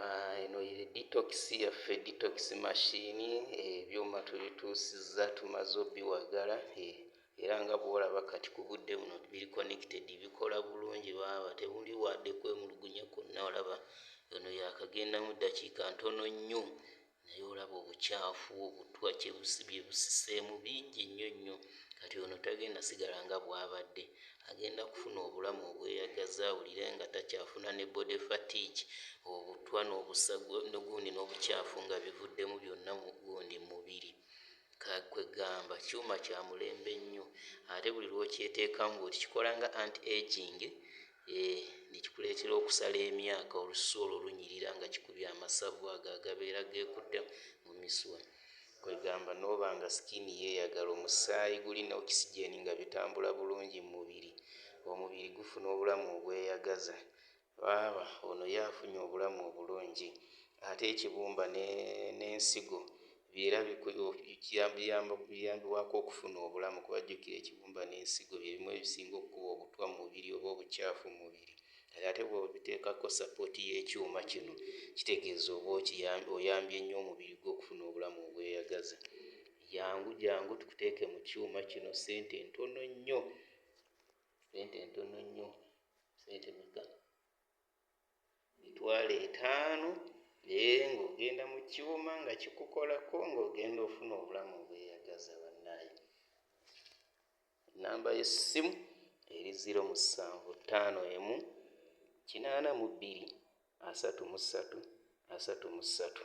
Ah, eno ye detox yaffe detox machine ebyuma tubituusizza tumaze obiwagala eh, era nga bwolaba kati ku budde buno biri connected bikola bulungi baaba tebuli wadde kwemulugunya kwonna olaba eno yakagenda mu ddakiika ntono nnyo naye olaba obukyafu obutwa kyebusibye busiseemu bingi nnyo nnyo kati ono tagenda sigala nga bwabadde agenda kufuna obulamu obweyagaza awulire nga takyafuna ne body fatigue obutwa nobusagundi nobukyafu nga bivuddemu byonna gundi mubiri kwegamba kyuma kyamulembe nnyo ate buli lwokyeteekamu bwoti kikola nga anti aging Eeh ne kikuleetera okusala emyaka olususu olwo lunyirira nga kikubye amasavu ago agabeera geekutte mu misuwa kwegamba nooba nga skin yeeyagala, omusaayi guli ne oxygen nga bitambula bulungi mu mubiri, omubiri gufuna obulamu obweyagaza baaba ono ye afunye obulamu obulungi ate ekibumba ne ne nsigo Era biyambibwako okufuna obulamu kuba jjukira ekibumba n'ensigo bye bimu ebisinga okukuba obutwa mu mubiri oba obucaafu mu mubiri kati ate bw'obiteekako sapooti y'ekyuma kino kitegeeza oba oyambye nnyo omubiri gwo okufuna obulamu obweyagaza. Jangu jangu tukuteeke mu kyuma kino ssente ntono nnyo, ssente ntono nnyo, ssente meka? emitwalo etaano naye ng'ogenda mu kiwoma nga kikukolako ng'ogenda ofuna obulamu obweyagaza bannaye ennamba y'essimu eri ziro musanvu ttaano emu kinaana mu bbiri asatu mu ssatu asatu mu ssatu